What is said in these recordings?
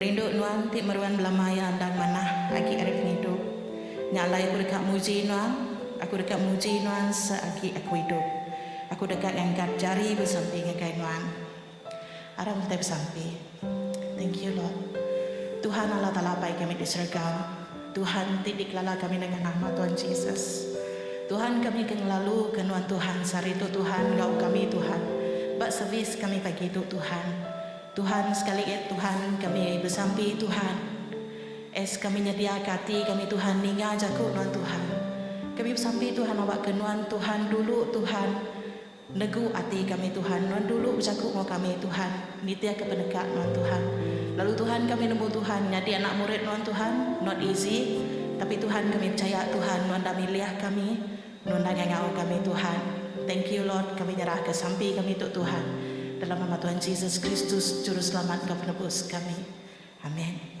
Rindu nuan ti meruan bela maya endang manah agi ari pengidup. Nya alai aku deka muji nuan, aku deka muji nuan seagi aku idup. Aku deka ngangkat jari besampi ngagai nuan. Arang utai besampi. Thank you Lord. Tuhan Allah Taala Apai kami di serega. Tuhan ti dikelala kami nengah nama Tuhan Jesus. Tuhan kami ke ngelalu ke nuan Tuhan sehari tu Tuhan enggau kami Tuhan ba servis kami pagi tu Tuhan. Tuhan sekali it Tuhan kami besampi Tuhan. As kami nyedia ke ati kami Tuhan ninga jaku nuan Tuhan. Kami besampi Tuhan awak ke nuan Tuhan dulu Tuhan. Negu ati kami Tuhan, nuan dulu bejaku enggau kami Tuhan, nitihka peneka nuan Tuhan. Lalu Tuhan kami nemu Tuhan nyadi anak murid nuan Tuhan, not easy, tapi Tuhan kami pechaya Tuhan nuan dah milih kami, nuan dah ngangau kami Tuhan. Thank you Lord, kami nyerahka sampi kami tu Tuhan, dalam nama Tuhan Jesus Kristus Juruselamat enggau Penebus kami. Amen.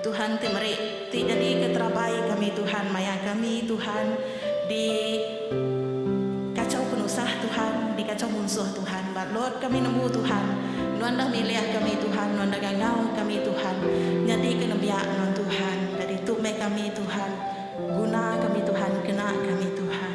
Tuhan ti meri ti jadi ke terabai kami Tuhan maya kami Tuhan di kacau penusah Tuhan di kacau munsuh Tuhan ba lot kami nembu Tuhan nuan dah milih kami Tuhan nuan dah gangau kami Tuhan nyadi ke nembiak nuan Tuhan jadi tu meh kami Tuhan guna kami Tuhan kena kami Tuhan.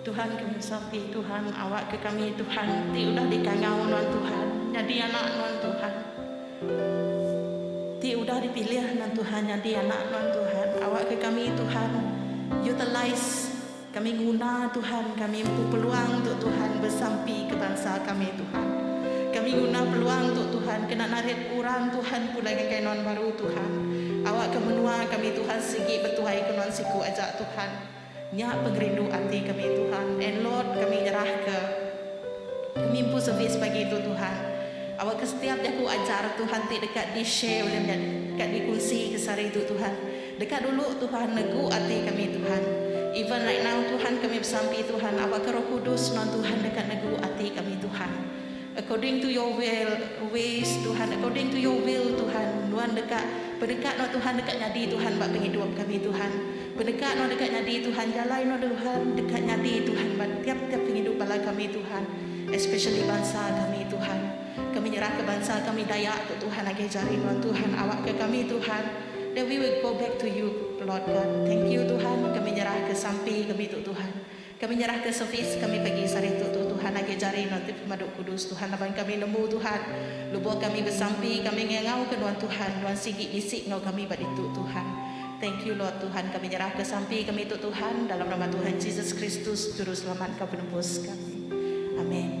Tuhan kami sampi Tuhan awak ke kami Tuhan ti udah di kangau nuan Tuhan nyadi anak nuan Tuhan ti udah di pilih nuan Tuhan nyadi anak nuan Tuhan awak ke kami Tuhan utilize kami nguna Tuhan kami empu peluang tu Tuhan besampi ke bansa kami Tuhan kami nguna peluang tu Tuhan kena narit orang Tuhan pulai ngagai nuan baru Tuhan awak ke menua kami Tuhan sigi betuai ke nuan siku aja Tuhan. Nya pengerindu ati kami Tuhan and Lord kami nyerah ke kami empu servis pagi tu Tuhan awak ke setiap jaku ajar Tuhan ti deka di share ulih nya deka di kunsi ke sehari tu Tuhan deka dulu Tuhan negu ati kami Tuhan even right now Tuhan kami besampi Tuhan awak ke roh kudus non Tuhan deka negu ati kami Tuhan. According to your will, ways, Tuhan, according to your will, Tuhan, nuan deka peneka nuan Tuhan deka nyadi Tuhan ba pengidup kami Tuhan, peneka nuan deka nyadi Tuhan jalai nuan Tuhan deka nyadi Tuhan ba tiap tiap pengidup bala kami Tuhan especially bansa kami Tuhan kami nyerah ka bansa kami Dayak tu Tuhan agih jari nuan Tuhan awak ka kami Tuhan that we will go back to you Lord God thank you Tuhan kami nyerah ka sampi kami tu Tuhan. Kami nyerahka servis kami pagi sehari tu tu Tuhan agi jari nutip pemadu kudus Tuhan laban kami nemu Tuhan lebuh kami besampi kami ngangau ke nuan Tuhan nuan sigi bisi enggau kami ba ditu Tuhan thank you Lord Tuhan kami nyerahka sampi kami tu Tuhan dalam nama Tuhan Jesus Kristus juru selamat enggau penebus kami Amen.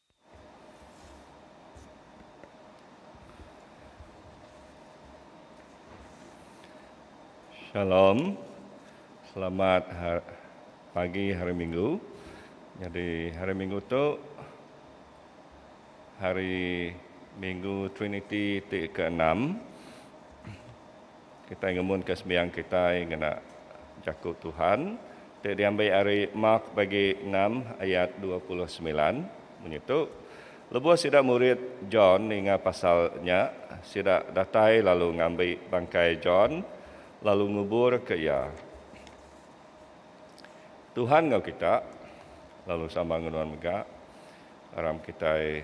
Shalom. Selamat pagi hari minggu. Nyadi hari minggu tu hari minggu triniti ti keenam. Kitai ngemunka sembiang kitai ngena Jaku Tuhan ti diambi ari Mark Bagi enam ayat dua puluh semilan. Munyi tu, lebuh sida murid John ninga pasal nya, sida datai lalu ngambi bangkai John lalu nguburka iya. Tuhan enggau kita, lalu sama enggau nuan mega, aram kitai.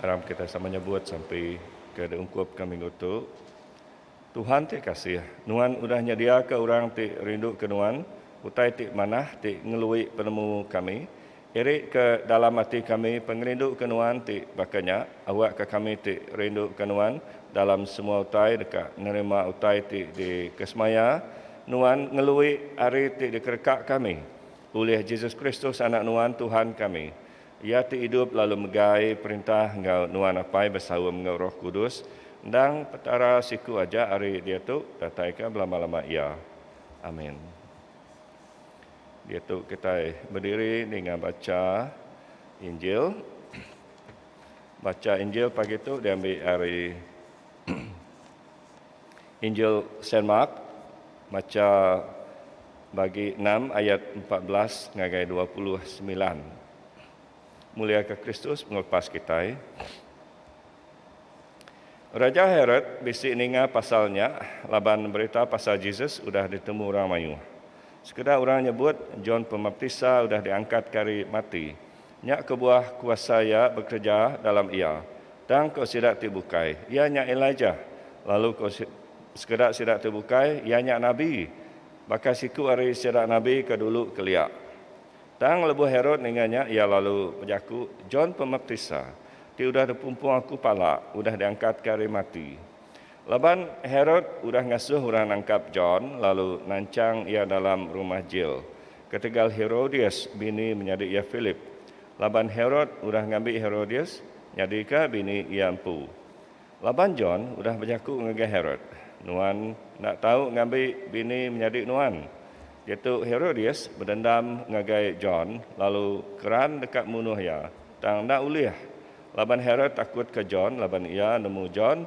Aram kitai sama nyebut sampi ke diungkupka minggu tu. Tuhan ti kasih. Nuan udah nyediaka orang ti rinduka Nuan, utai ti manah ti ngelui penemu kami. Irika dalam ati kami pengerinduka Nuan ti baka nya, awakka kami ti rinduka Nuan dalam semua utai deka nerima utai ti dikesemaya Nuan ngelui ari ti dikereka kami ulih Jesus Kristus Anak Nuan Tuhan kami. Iya ti idup lalu megai perintah enggau Nuan Apai besaum enggau Roh Kudus, endang Petara siku aja ari diatu dataika belama-lama iya. Amin. Diatu kitai bediri ninga bacha Injil. Bacha Injil pagi tu diambi ari. Injil Saint Mark, macha bagi enam ayat empat belas ngagai dua puluh semilan. Muliaka Kristus Pengelepas kitai. Raja Herod bisi ninga pasal nya laban berita pasal Jesus udah ditemu orang mayuh. Sekeda orang nyebut John Pemaptisa udah diangkatka ari mati Nya kebuah kuasa Iya bekereja dalam iya, tang ko sida ti bukai, Iya nya Elijah, lalu ko sekeda sida ti bukai, Iya nya nabi, baka siku ari sida nabi ke dulu kelia. Tang lebuh Herod ninga nya, iya lalu bejaku, John Pemaptisa, ti udah dipumpung aku pala, udah diangkatka ari mati. Laban Herod udah ngasuh orang nangkap John lalu nanchang iya dalam rumah jil, ketegal Herodias bini menyadi iya Philip. Laban Herod udah ngambi Herodias nyadika bini iya empu. Laban John udah bejaku ngagai Herod, Nuan enda tau ngambi bini menyadi nuan. Diatu Herodias bedendam ngagai John lalu keran deka munuh iya, tang enda ulih. Laban Herod takutka John laban iya nemu John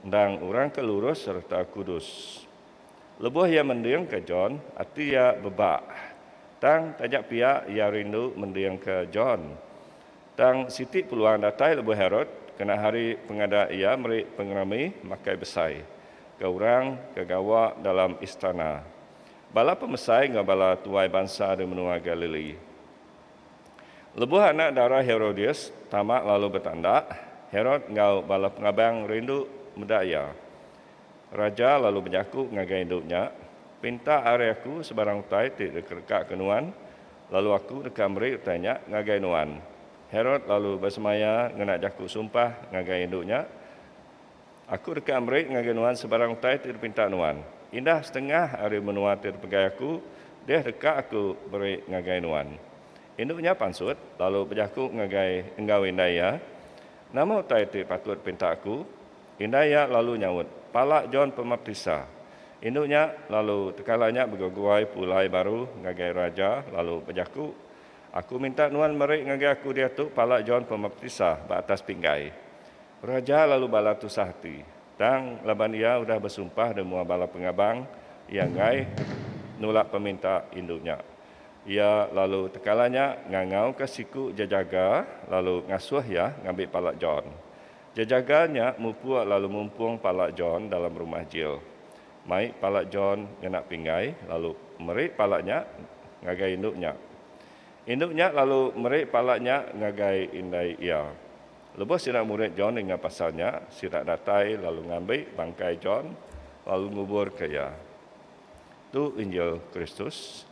endang orang ke lurus sereta kudus. Lebuh iya mendingka John, ati iya bebak. Tang, taja pia iya rindu mendingka John. Tang, siti peluang datai lebuh Herod kena hari pengada iya meri pengerami makai besai ke orang ke gawa dalam istana, bala pemesai enggau bala tuai bansa di menua Galili. Lebuh anak dara Herodias tama lalu betanda, Herod enggau bala pengabang rindu meda iya. Raja lalu bejaku ngagai indu nya, Pinta ari aku sebarang utai ti dikerekaka nuan, lalu aku deka meri utai nya ngagai nuan. Herod lalu besemaya ngena jaku sumpah ngagai indu nya. Aku deka meri ngagai nuan sebarang utai ti dipinta nuan. Indah setengah ari menua ti dipegai Aku, deh deka Aku meri ngagai nuan. Indu nya pansut, lalu bejaku ngagai enggau indai iya, Nama utai ti patut dipinta aku? Indai iya lalu nyaut, Pala John Pemaptisa. Indu nya, lalu tekala nya begeguai pulai baru ngagai raja, lalu bejaku, Aku minta nuan meri ngagai aku diatu pala John Pemaptisa ba atas pinggai. Raja lalu bala tusah ati. Tang, laban iya udah besumpah di mua bala pengabang iya enggai nulak peminta indu nya, iya lalu tekala nya ngangauka siku jejaga lalu ngasuh iya ngambi pala John. Jejaga nya mupuk lalu mumpung pala John dalam rumah jil. Mai pala John ngena pinggai lalu meri pala nya ngagai indu nya. Indu nya lalu meri pala nya ngagai indai iya. Lebuh sida murid John ninga pasal nya, sida datai lalu ngambi bangkai John lalu nguburka iya. Tu Injil Kristus.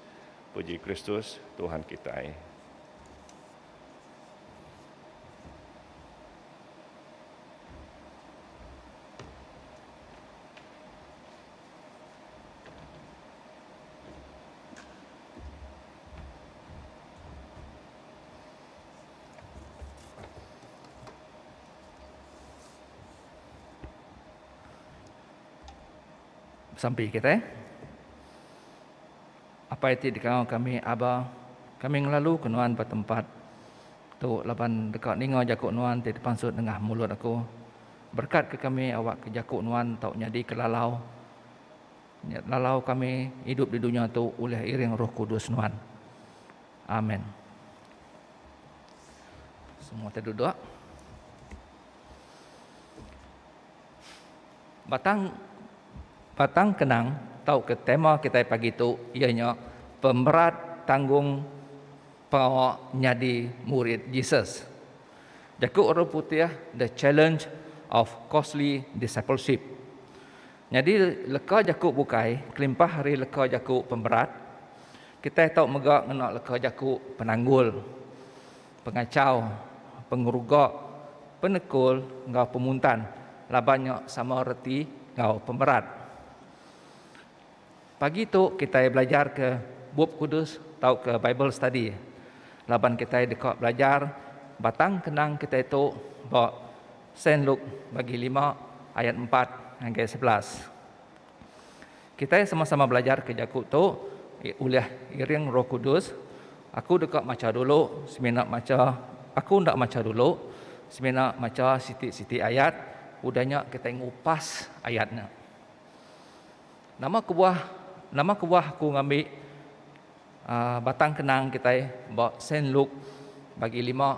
Puji Kristus, Tuhan kitai. Besampi kitai. Apai ti dikau kami Aba, kami ngelaluka nuan ba tempat tu laban deka ninga jaku nuan ti dipansut nengah mulut aku. Berekatka kami awakka jaku nuan tau nyadika lalau lalau kami idup di dunya tu ulih iring Roh Kudus nuan. Amen. Semua kita duduk. Batang batang kenang tau ke tema kita pagi tu ia nya pemerat tanggung pengawa nyadi murid Jesus. Jaku orang putih the challenge of costly discipleship. Nyadi leka jaku bukai kelimpah ari leka jaku pemberat. Kitai tau mega ngena leka jaku penanggul, pengachau, pengeruga, penekul enggau pemuntan laban nya sama reti enggau pemberat. Pagi tu kitai belajarka Bup Kudus tauka Bible Study laban kitai deka belajar batang kenang kitai tu ba Saint Luke bagi lima ayat empat ngagai sebelas. Kitai sama-sama belajarka jaku tu ulih iring Roh Kudus, Aku deka macha dulu semina macha aku enda macha dulu semina macha siti-siti ayat udah nya kitai ngupas ayat nya. Nama kebuah nama kebuah aku ngambi batang kenang kitai ba Saint Luke bagi lima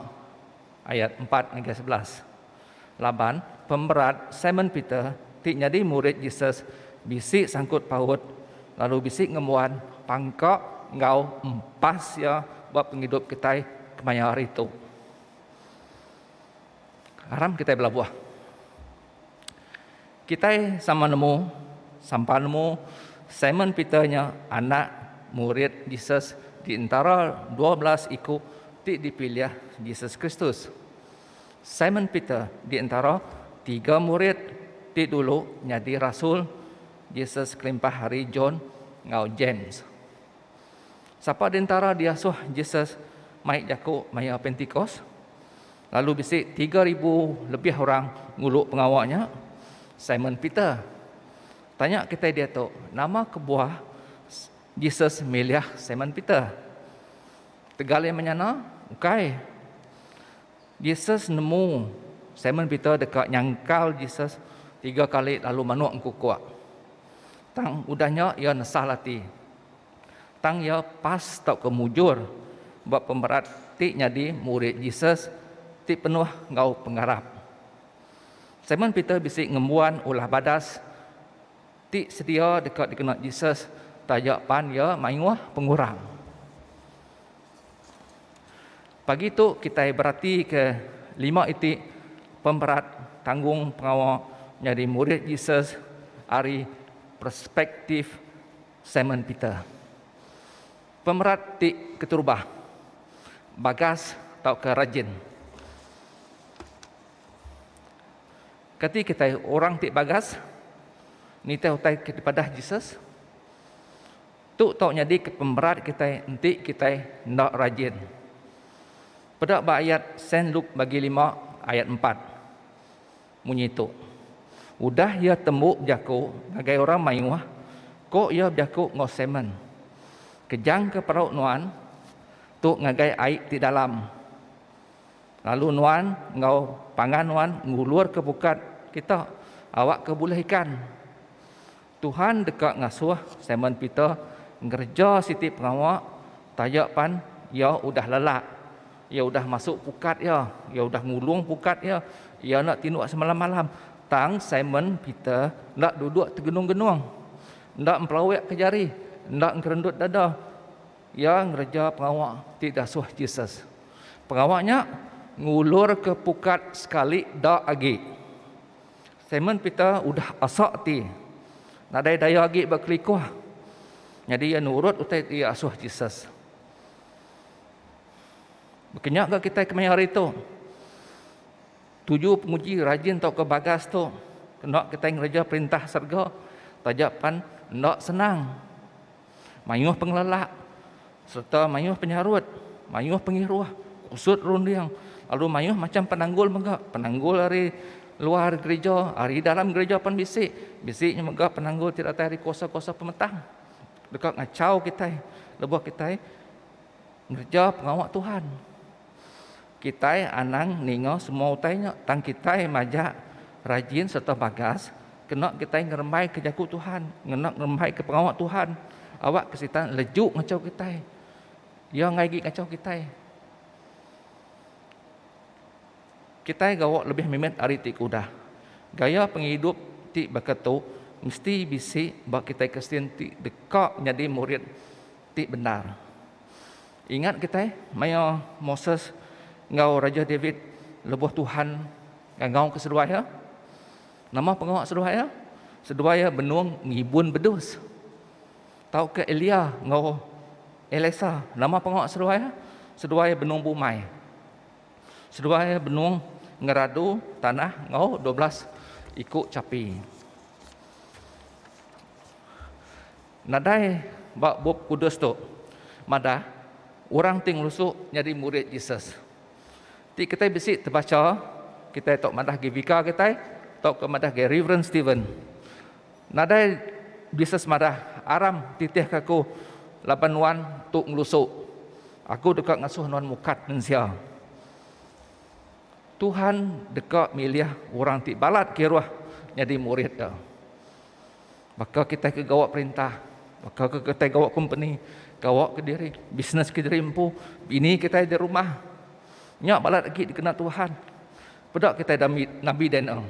ayat empat ngagai sebelas? Laban, pemberat Simon Peter ti nyadi murid Jesus bisi sangkut paut lalu bisi ngembuan pangka enggau empas iya ba pengidup kitai kemaya hari tu. Aram kitai belabuh. Kitai sama nemu, sampan nemu, Simon Peter nya anak murid Jesus di entara dua belas iku ti dipilih Jesus Kristus. Simon Peter di entara tiga murid ti dulu nyadi rasul Jesus kelimpah ari John enggau James. Sapa di entara diasuh Jesus mai jaku maya Pentikos? Lalu bisi tiga ribu lebih orang ngulu pengawa nya, Simon Peter. Tanya kitai diatu, nama kebuah Jesus milih Simon Peter? Tegal iya menyana, ukai. Jesus nemu Simon Peter deka nyangkal Jesus tiga kali lalu manuk engkukuk. Tang udah nya iya nesal ati. Tang iya pas tauka mujur ba pemerat ti nyadi murid Jesus ti penuh enggau pengarap. Simon Peter bisi ngembuan ulah badas ti sedia deka dikena Jesus taja pan iya mayuh pengurang. Pagi tu kitai beratika lima iti pemerat tanggung pengawa nyadi murid Jesus ari perspektif Simon Peter. Pemerat ti keterubah. Bagas tauka rajin. Kati kitai orang ti bagas nitih utai ke dipadah Jesus? Tu tau nyadika pemerat kitai enti kitai enda rajin. Peda ba ayat Saint Luke Bagi lima ayat empat. Munyi tu. Udah iya tembu bejaku ngagai orang mayuh, ko iya bejaku enggau Simon, Kejangka perau nuan tu ngagai ai ti dalam, lalu nuan enggau pangan nuan ngulurka bukat kita awakka bulih ikan. Tuhan deka ngasuh Simon Peter ngereja siti pengawa taja pan iya udah lelak. Iya udah masuk pukat iya. Iya udah ngulung pukat iya. Iya enda tinduk semalam-malam. Tang Simon Peter enda duduk tegenung-genung. Enda empelawikka jari. Enda ngerendut dada. Iya ngereja pengawa ti diasuh Jesus. Pengawa nya ngulurka pukat sekali da agi. Simon Peter udah asa ati nadai daya agi bekelikuh. Nyadi iya nurut utai ti iya asuh Jesus. Baka nya ga kitai kemaya hari tu. Tuju penguji rajin tauka bagas tu enda kitai ngereja perintah serega taja pan enda senang. Mayuh pengelelak sereta mayuh penyarut, mayuh pengiruh, kusut runding lalu mayuh macham penanggul mega. Penanggul ari luar gerija, ari dalam gerija pan bisi. Bisi nya mega penanggul ti datai ari kuasa-kuasa pemetang deka ngachau kitai lebuh kitai ngereja pengawa Tuhan. Kitai anang ninga semua utai nya, tang kitai majak rajin sereta bagas kena kitai ngerembaika Jaku Tuhan, ngena ngerembaika pengawa Tuhan. Awakka Sitan leju ngachau kitai. Iya enggai agi ngachau kitai. Kitai gawa lebih mimit ari ti ke udah. Gaya pengidup ti baka tu mesti bisi ba kitai Kristian ti deka nyadi murid ti bendar. Ingat kitai, maya Moses enggau Raja David lebuh Tuhan ngangauka seduai iya, nama pengawa seduai iya? Seduai iya benung ngibun bedus. Tauka Elia enggau Elisa, nama pengawa seduai iya? Seduai iya benung bumai. Seduai iya benung ngeradu tanah enggau dua belas iku chapi. Nadai ba Bup Kudus tu madah orang ti ngelusu nyadi murid Jesus. Ti kitai bisi tebacha, kitai tu madah agi bika kitai tauka madah agi Reverend Steven. Nadai Jesus madah, Aram titihka aku laban nuan tu ngelusu. Aku deka ngasuh nuan mukat mensia. Tuhan deka milih orang ti balat kiruh nyadi murid Iya. Baka kitai ke gawa perintah, baka ke kitai gawa kompeni, gawa kediri, bisnes kediri empu, bini kitai di rumah. Nya balat agi dikena Tuhan. Peda kitai Nabi Daniel.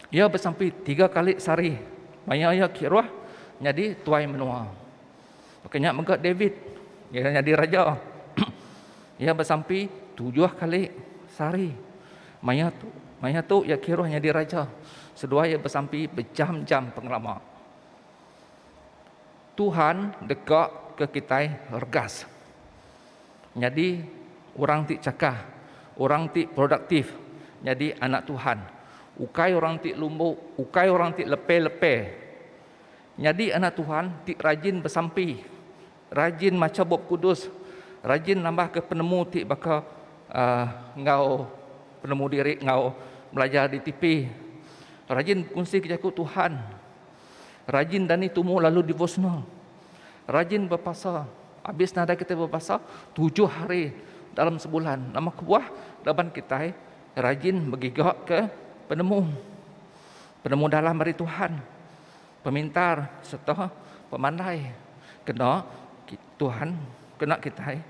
Iya besampi tiga kali sehari maya iya kiruh nyadi tuai menua. Baka nya mega David, iya nyadi raja. Iya besampi tujuh kali sehari. Maya tu, maya tu iya kiruh nyadi raja. Seduai iya besampi bejam-jam pengelama. Tuhan deka ke kitai regas. Nyadi orang ti chakah, orang ti produktif, nyadi anak Tuhan. Ukai orang ti lumbu, ukai orang ti lepe-lepe. Nyadi anak Tuhan ti rajin besampi, rajin macha Bup Kudus, rajin nambahka penemu ti baka enggau penemu diri enggau belajar di tipi, rajin bekunsika jaku Tuhan, rajin dani tumu lalu devotional, rajin bepasa. Abis nadai kitai bepasa tujuh hari dalam sebulan, nama kebuah laban kitai rajin begigaka penemu. Penemu dalam ari Tuhan. Pemintar sereta pemandai kena Tuhan kena kitai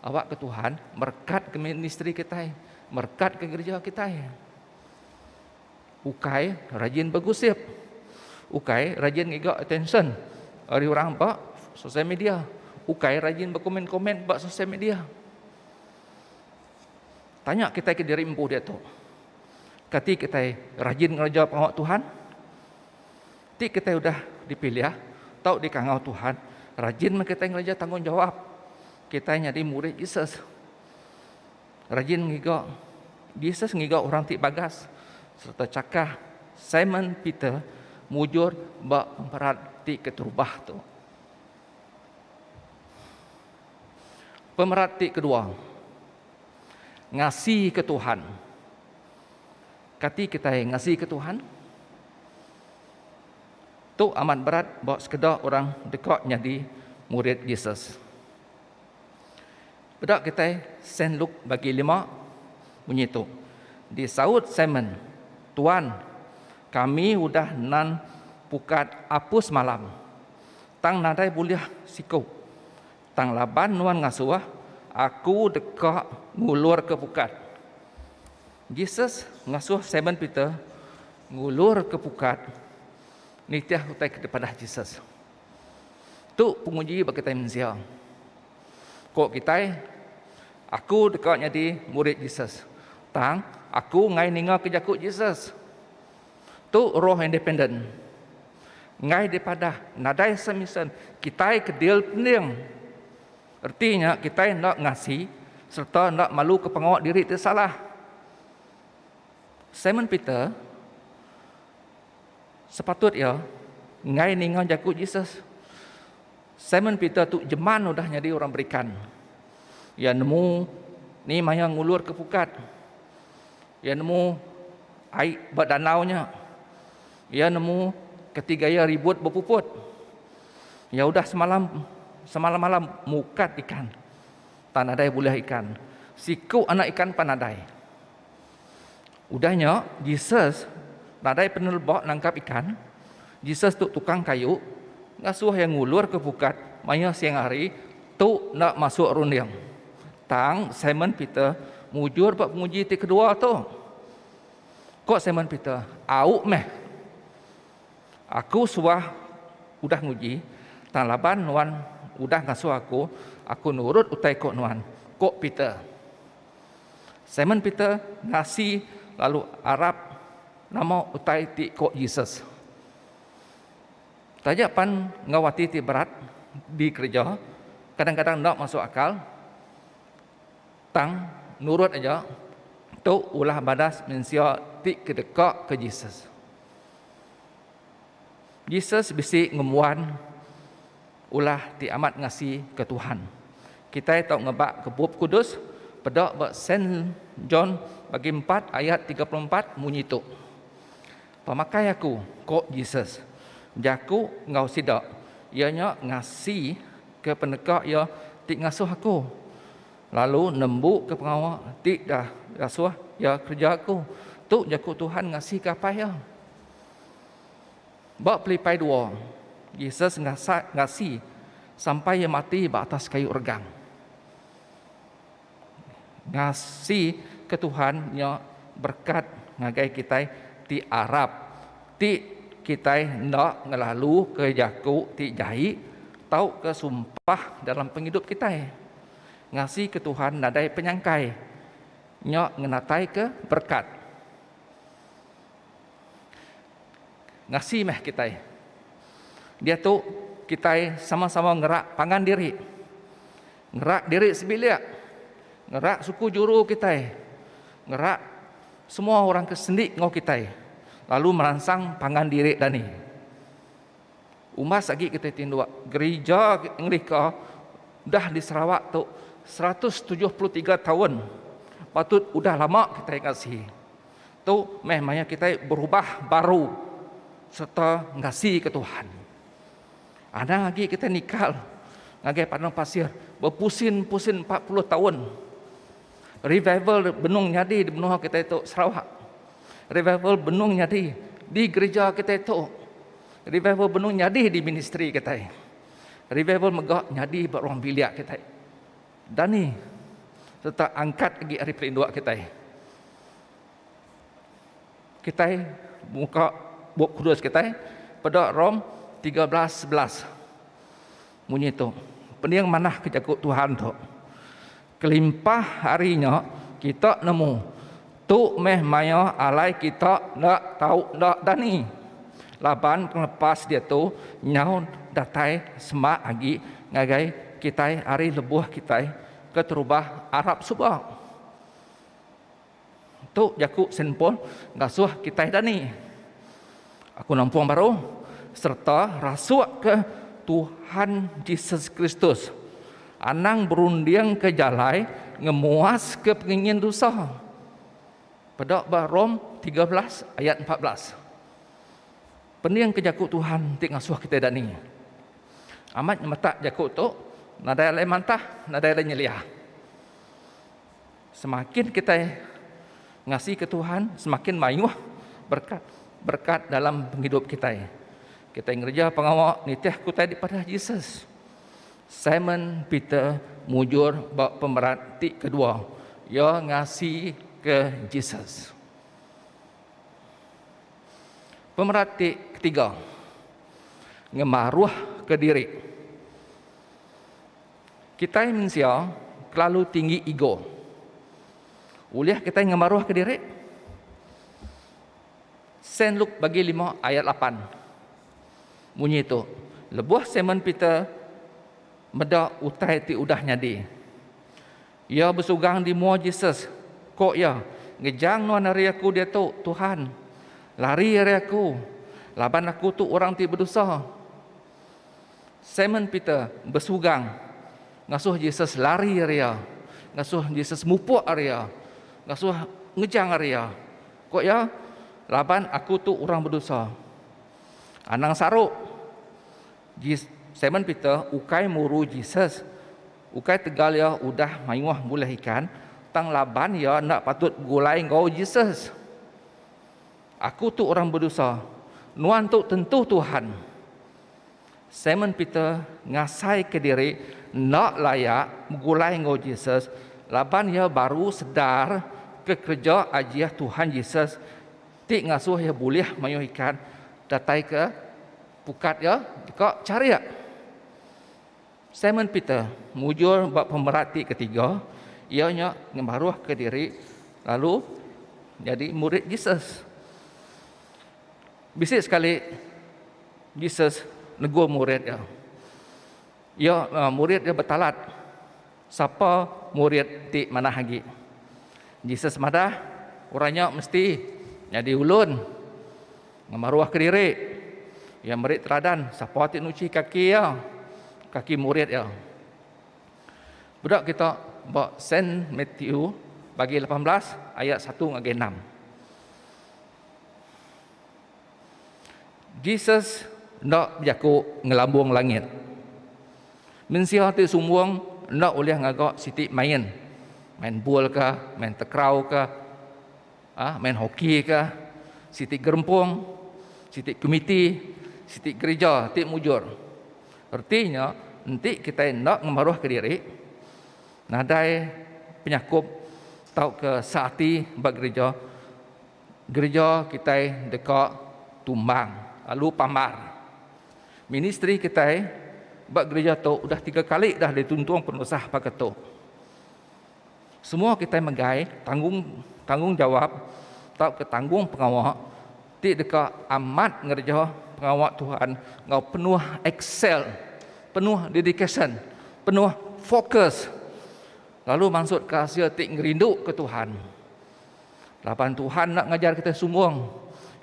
awakka Tuhan merekatka ministri kitai, merekatka gereja kitai. Ukai rajin begusip. Ukai rajin ngiga attention ari orang ba sosial media. Ukai rajin bekomen-komen ba sosial media. Tanya kitai kediri empu diatu. Kati kitai rajin ngereja pengawa Tuhan? Ti kitai udah dipilih tau dikangau Tuhan, rajin meh kitai ngereja tanggungjawap kitai nyadi murid Jesus. Rajin ngiga Jesus ngiga orang ti bagas sereta chakah Simon Peter mujur ba pemerat ti keterubah tu. Pemerat ti kedua, Ngasika Tuhan. Kati kitai ngasika Tuhan? Tu amat berat ba sekeda orang deka nyadi murid Jesus. Peda kitai Sen Luk bagi lima munyi tu. Disaut Simon, Tuan, kami udah nan pukat apu semalam, tang nadai bulih siku. Tang laban nuan ngasuh aku deka ngulurka pukat. Jesus ngasuh Simon Peter ngulurka pukat nitih utai ke dipadah Jesus. Tu penguji ba kitai mensia. Ko kitai, Aku deka nyadi murid Jesus, tang aku enggai ningaka jaku Jesus. Tu roh independen. Enggai dipadah nadai semisen kitai ke deal pending. Reti nya kitai enda ngasi sereta enda maluka pengawa diri ti salah. Simon Peter sepatut iya enggai ninga jaku Jesus. Simon Peter tu jeman udah nyadi orang berikan. Iya nemu ni maya ngulurka pukat. Iya nemu ai ba danau nya. Iya nemu keti gaya ribut bepuput. Iya udah semalam semalam-malam mukat ikan. Tan nadai bulih ikan. Siku anak ikan pan nadai. Udah nya, Jesus nadai peneleba nangkap ikan, Jesus tu tukang kayu ngasuh iya ngulurka pukat maya siang hari tu enda masuk runding. Tang, Simon Peter mujur ba penguji ti kedua tu. Ku Simon Peter, Au meh. Aku suah udah nguji, tang laban nuan udah ngasuh aku, aku nurut utai ku nuan, ku Peter. Simon Peter ngasi lalu arap. Nama utai ti ko Jesus? Taja pan enggau ati ti berat dikereja, kadang-kadang enda masuk akal, tang nurut aja tu ulah badas mensia ti ke deka ke Jesus. Jesus bisi ngembuan. Ulah ti amat ngasi ke Tuhan. Kitai tau ngebak ke Bup Kudus peda ba Saint John bagi empat ayat tiga puluh empat munyi tu. Pemakai aku, ko Jesus, jaku enggau sida iya nya ngasi ke peneka iya ti ngasuh aku lalu nembu ke pengawa ti dah dasuh iya kereja aku. Tu jaku Tuhan ngasi ke Apai iya. Ba pelipai dua, Jesus ngasak ngasi sampai iya mati ba atas kayu regang. Ngasi ke Tuhan nya berekat ngagai kitai ti arap ti kitai enda ngelalu ke jaku ti jai tauka sumpah dalam pengidup kitai. Ngasi ke Tuhan nadai penyangkai. Nya ngenataika berekat. Ngasi meh kitai. Diatu kitai sama-sama ngerak pangan diri. Ngerak diri sebilik. Ngerak suku juru kitai. Ngerak semua orang ke sendi enggau kitai lalu meransang pangan diri dani. Umbas agi kitai tinduk gerija ngelika dah di Sarawak tu seratus tujuh puluh tiga taun patut udah lama kitai ngasi. Tu meh maya kitai berubah baru serta ngasika Tuhan. Anang agi kitai nikal ngagai padang pasir bepusin-pusin empat puluh taun. Revival benung nyadi di menua kitai tu Sarawak. Revival benung nyadi di gereja kitai tu. Revival benung nyadi di ministri kitai. Revival mega nyadi ba ruang bilik kitai. Dani sereta angkat agi ari pelinduk kitai. Kitai muka Bup Kudus kitai peda Rom tiga belas sebelas. Munyi tu, pening manah ke jaku Tuhan tu. Kelimpah ari nya kita nemu Tu meh mayuh alai kita enda tau enda dani. Laban pengelepas diatu nyau datai sema agi ngagai kitai ari lebuh kitai keterubah arap suba. Tu jaku Senpon ngasuh kitai dani. Aku nampung baru sereta rasukka Tuhan Jesus Kristus anang berundingka jalai ngemuaska pengingin dusa. Peda ba Rom 13 ayat 14. Peningka jaku Tuhan ti ngasuh kitai dani. Amat nyemetak jaku tu nadai alai mantah, nadai alai nyeliah. Semakin kitai ngasika Tuhan, semakin mayuh berkat berkat dalam pengidup kitai. Kitai ngereja pengawa nitih kutai dipadah Jesus. Simon Peter mujur ba pemerat ti kedua. Ia ngasi ke Jesus. Pemerat ti ketiga. Ngemaruh ke diri. Kitai mensia kelalu tinggi ego. Ulih kitai ngemeruhka diri? Sen Luk bagi lima ayat lapan. Munyi tu, lebuh Simon Peter meda utai ti udah nyadi. Iya besugang di mua Jesus, ko iya, Ngejang nuan ari aku diatu, Tuhan. Lari ari aku, laban aku tu orang ti bedosa. Simon Peter besugang ngasuh Jesus lari ari iya, ngasuh Jesus mupuk ari iya, ngasuh ngejang ari iya. Ku iya, Laban aku tu orang bedosa. Anang saruk, Simon Peter ukai muru Jesus ukai tegal iya udah mayuh ngulih ikan, tang laban iya enda patut begulai enggau Jesus. Aku tu orang bedusa, nuan tu tentu Tuhan. Simon Peter ngasaika diri enda layak begulai enggau Jesus laban iya baru sedar ke kereja ajih Tuhan Jesus ti ngasuh iya bulih mayuh ikan datai ke pukat iya deka charik. Simon Peter mujur ba pemerat ti ketiga, iya nya ngemaruhka diri lalu nyadi murid Jesus. Bisi sekali Jesus negur murid iya. Iya eh, murid iya betalat sapa murid ti manah agi. Jesus madah, orang nya mesti nyadi ulun. Ngemaruh kediri. Iya meri teladan sapa ti nuchi kaki iya, kaki murid iya. Beda kita ba Saint Matthew bagi lapan belas ayat satu ngagai enam. Jesus enda bejaku ngelambung langit. Mensia ti sumbung enda ulih ngaga siti main. Main bol ka, main tekrau ka, Ah, main hoki ka, siti gerempung, siti komiti, siti gerija ti mujur. Reti nya, enti kitai enda ngemaruhka diri, nadai penyakup tauka seati ba gerija, gerija kitai deka tumbang lalu pambar. Ministri kitai ba gerija tu udah tiga kali dah dituntung penusah baka tu. Semua kitai megai tanggung tanggungjawap tauka tanggung pengawa ti deka amat ngereja pengawa Tuhan enggau penuh excel, penuh dedication, penuh fokus lalu mansutka asil ti ngerinduka Tuhan. Laban Tuhan enda ngajar kitai sumbung.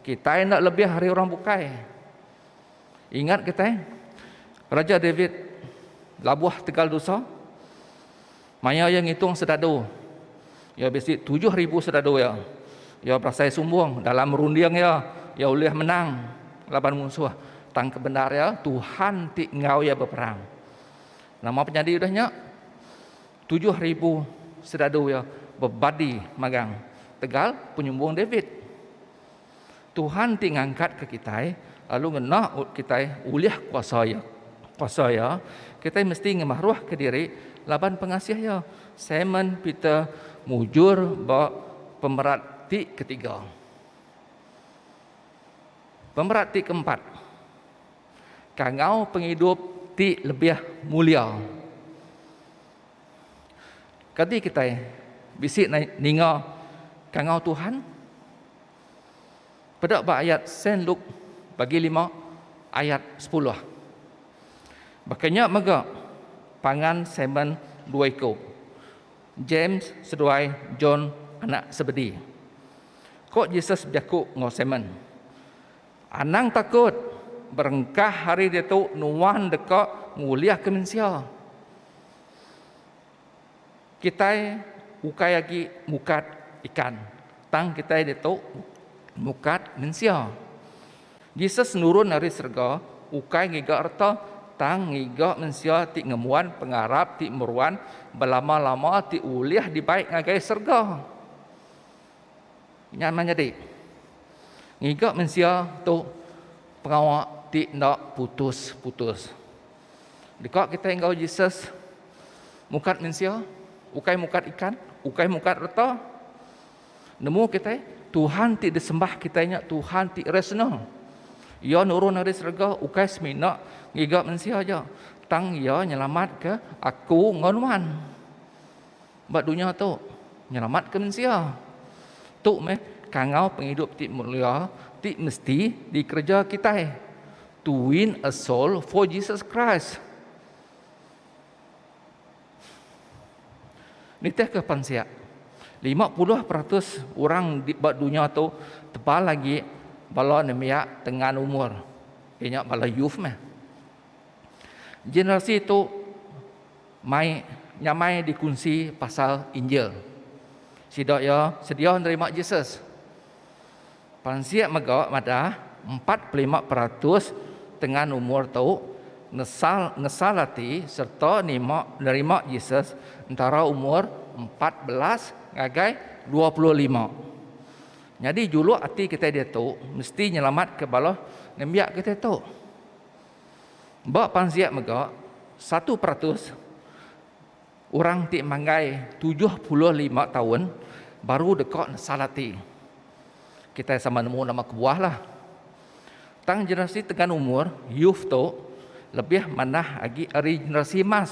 Kitai enda lebih ari orang bukai. Ingat kitai Raja David labuh tegal dosa. Maya iya ngitung sedadu iya bisi tujuh ribu sedadu iya, iya berasai sumbung. Dalam runding iya, iya ulih menang laban munsuh. Tang ke bendar iya, Tuhan ti enggau iya beperang. Nama penyadi udah nya? Tujuh ribu sedadu iya bebadi magang tegal penyumbung David. Tuhan ti ngangkatka kitai lalu ngena kitai ulih kuasa Iya. Kuasa Iya, kitai mesti ngemaruhka diri laban pengasih Iya. Simon Peter mujur ba pemerat ti ketiga. Pemerat ti keempat. Kangau pengidup ti lebih mulia. Kadi kitai bisi ninga kangau Tuhan? Peda ba ayat Saint Luke bagi lima ayat sepuluh. Baka nya mega pangan Simon dua iku, James seduai John anak Sebedi. Ko Jesus bejaku enggau Simon, Anang takut, berengkah hari diatu nuan deka ngulihka mensia. Kitai ukai agi mukat ikan, tang kitai ditu mukat mensia. Jesus nurun ari serega ukai ngiga reta, tang ngiga mensia ti ngembuan pengarap ti meruan belama-lama ti ulih dibai ngagai serega. Nya meh nyadi, ngiga mensia tu pengawa ti enda putus-putus. Deka kitai enggau Jesus mukat mensia, ukai mukat ikan, ukai mukat reta. Nemu kitai, Tuhan ti disembah kitai nya Tuhan ti resna. Ia nurun dari serega ukai semina ngiga mensia aja, tang ia nyelamat ke aku enggau nuan. Ba dunya tu, nyelamatka mensia. Tu meh kangau pengidup ti mulia ti mesti dikereja kitai, to win a soul for Jesus Christ. Nitihka pansik, lima puluh peratus orang ba dunya tu tebal agi bala nembiak tengan umur, iya nya bala youth meh. Generasi tu Mai nyamai dikunsi pasal Injil. Sida iya sedia nerima Jesus. Pansik mega madah, empat pelima peratus tengan umur tu nesal ngesal ati sereta nima nerima Jesus entara umur empat belas ngagai dua puluh lima. Nyadi juluk ati kitai diatu mesti nyelamatka bala nembiak kitai tu. Ba pansik mega, satu peratus orang ti manggai tujuh puluh lima taun baru deka nesal ati. Kitai sama nemu nama kebuahlah. Tang generasi tegan umur, youth, tu lebih manah agi ari generasi emas.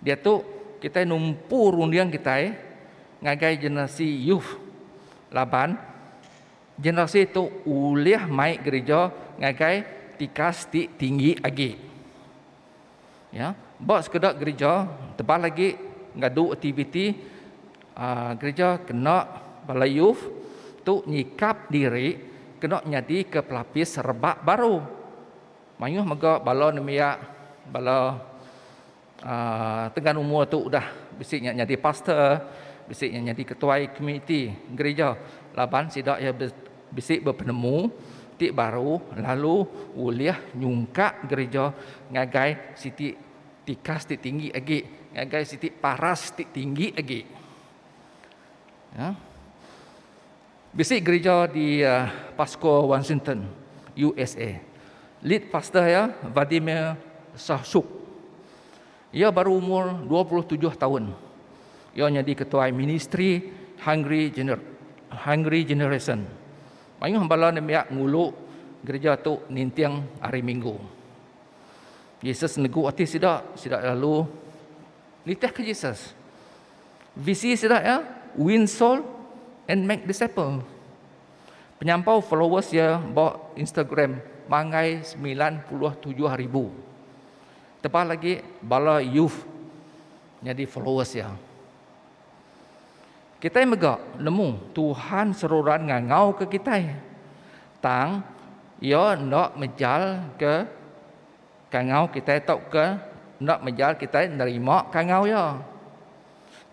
Diatu kitai numpu runding kitai ngagai generasi youth laban. Generasi tu ulih mai gerija ngagai tikas ti tinggi agi. Ya, ba sekeda gerija tebal agi ngadu aktiviti gerija kena bala youth tu nyikap diri kena nyadika pelapis rebak baru mayuh mega bala nembiak bala. Tengan umur tu udah bisi nya nyadi pastor, bisi nya nyadi ketuai komuniti gerija laban sida iya bisi bepenemu ti baru lalu ulih nyungkak gerija ngagai siti tikas ti tinggi agi, ngagai siti paras ti tinggi agi. Bisi gerija di Pasco, Washington, USA. Lead pastor iya Vladimir Sahchuk. Iya baru umur dua puluh tujuh taun. Iya nyadi ketuai ministri Hungry Gener Hungry Generation. Mayuh bala nembiak ngulu gerija tu ninting Hari Minggu. Jesus negu ati sida, sida lalu nitihka Jesus. Visi sida iya Win Soul and Make Disciple. Penyampau followers iya ba Instagram manggai semilan puluh tujuh ribu. Tebal agi bala youth nyadi followers iya. Kitai mega nemu Tuhan seruran ngangauka kitai, tang Iya enda mejalka. Kangau kitai tauka enda mejar kitai nerima kangau iya.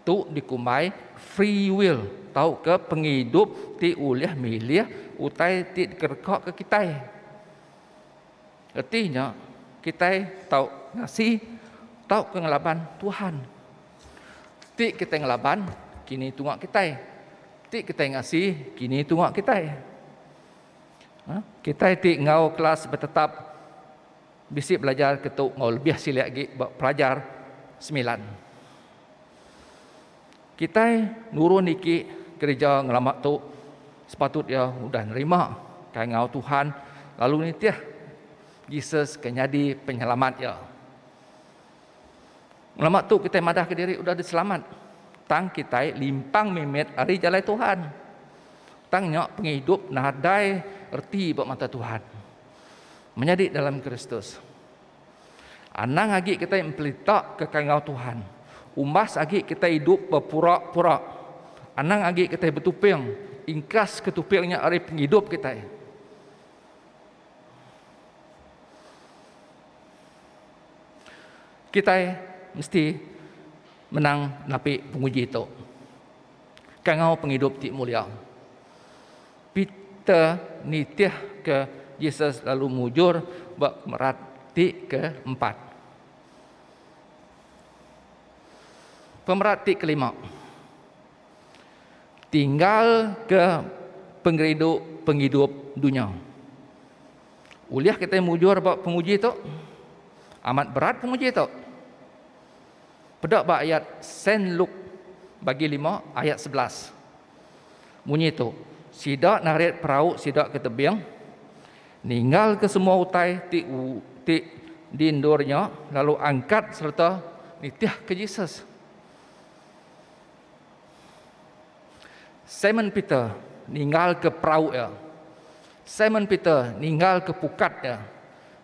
Tu dikumbai free will tauka pengidup ti ulih milih utai ti dikerekaka kitai. Reti nya, kitai tau ngasi tauka ngelaban Tuhan. Ti kitai ngelaban, kini tunga kitai. Ti kitai ngasi, kini tunga kitai. Kitai ti enggau kelas betetap bisi belajar ke tu enggau lebih silik agi ba pelajar semilan. Kitai nurun iki gereja ngelama tu sepatut iya udah nerima kai enggau Tuhan lalu nitih Jesus ke nyadi penyelamat iya. Lama tu kitai madahka diri udah diselamat tang kitai limpang mimit ari jalai Tuhan. Tang nya pengidup nadai reti ba mata Tuhan. Menyadi dalam Kristus. Anang agi kitai empelita ke kangau Tuhan. Umbas agi kitai idup bepura-pura. Anang agi kitai betuping ingkas ke tuping nya ari pengidup kitai. Kitai mesti menang napi penguji tu. Kangau pengidup ti mulia. Peter nitih ke Jesus lalu mujur ba pemerat ti keempat. Pemerat ti kelima. Tinggal ke pengerindu pengidup dunya. Ulih kitai mujur ba penguji tu? Amat berat penguji tu. Peda ba ayat Sen Luk bagi lima ayat sebelas. Munyi tu, sida narit perau sida ke tebing, ninggal ke semua utai ti ti diendurnya lalu angkat serta nitih ke Jesus. Simon Peter ninggalka perau iya. Simon Peter ninggalka pukat iya.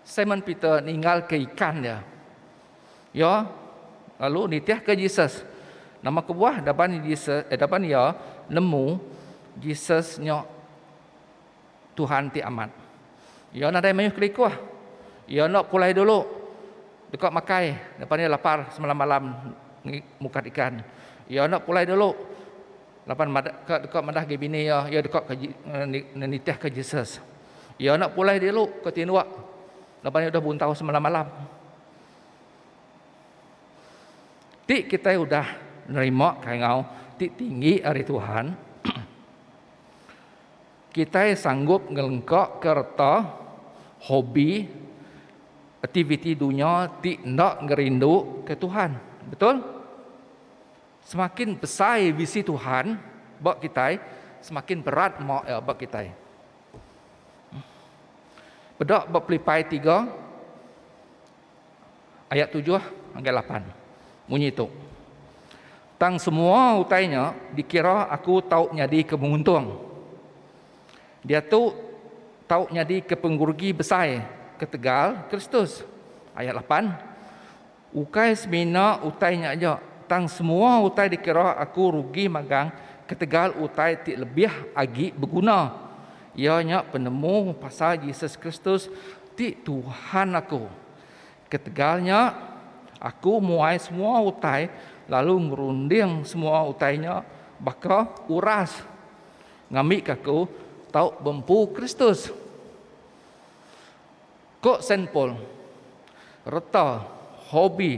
Simon Peter ninggalka ikan iya. Iya lalu nitihka Jesus. Nama kebuah daban Jesus eh, daban iya nemu Jesus nya Tuhan ti amat. Iya nadai mayuh kelikuh. Iya enda pulai dulu deka makai lepas ni lapar semalam-malam mukat ikan. Iya enda pulai dulu laban ka deka madah agi bini iya, iya deka nitihka Jesus. Iya enda pulai dulu ke tinduk laban iya udah buntau semalam-malam. Ti kitai udah nerima kai enggau ti tinggi ari Tuhan, Kitai sanggup ngelengkaka reta, hobi, aktiviti dunya ti enda ngerinduka Tuhan. Betul? Semakin besai visi Tuhan ba kitai, semakin berat nerima Iya ba kitai. Peda ba Pelipai tiga, Ayat tujuh ngagai lapan munyi tu, Tang semua utai nya dikira aku tau nyadika menguntung. Diatu tau nyadika pengerugi besai ketegal Kristus. Ayat lapan, Ukai semina utai nya aja, tang semua utai dikira aku rugi magang ketegal utai ti lebih agi beguna, iya nya penemu pasal Jesus Kristus Ti Tuhan aku. Ketegal nya, aku muai semua utai lalu ngerunding semua utai nya baka uras ngambika aku tau bempu Kristus. Ko Saint Paul, reta, hobi,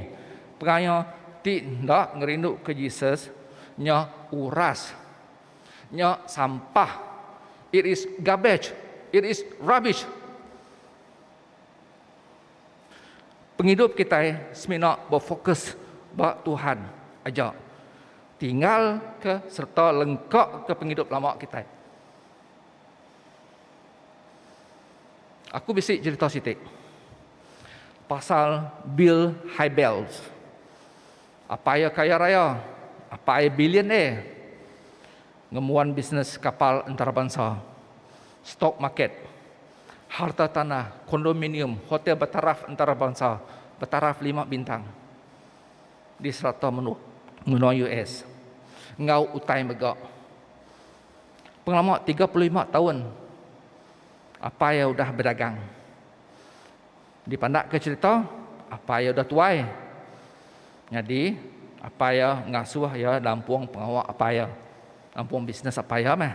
pengaya ti enda ngerinduka Jesus nya uras. Nya sampah. It is garbage. It is rubbish. Pengidup kitai semina befokus ba Tuhan aja. Tinggalka sereta lengkaka pengidup lama kitai. Aku bisi cherita siti pasal Bill Hybels. Apai iya kaya raya, apai billionaire ngembuan bisnes kapal entarabansa, stok market, harta tanah, kondominium, hotel betaraf entarabansa, betaraf lima bintang di serata menua US enggau utai mega. Pengelama tiga puluh lima taun apai iya udah bedagang. Dipandakka cherita, apai iya udah tuai. Nyadi, apai iya ngasuh iya nampung pengawa apai iya, nampung bisnes apai iya meh.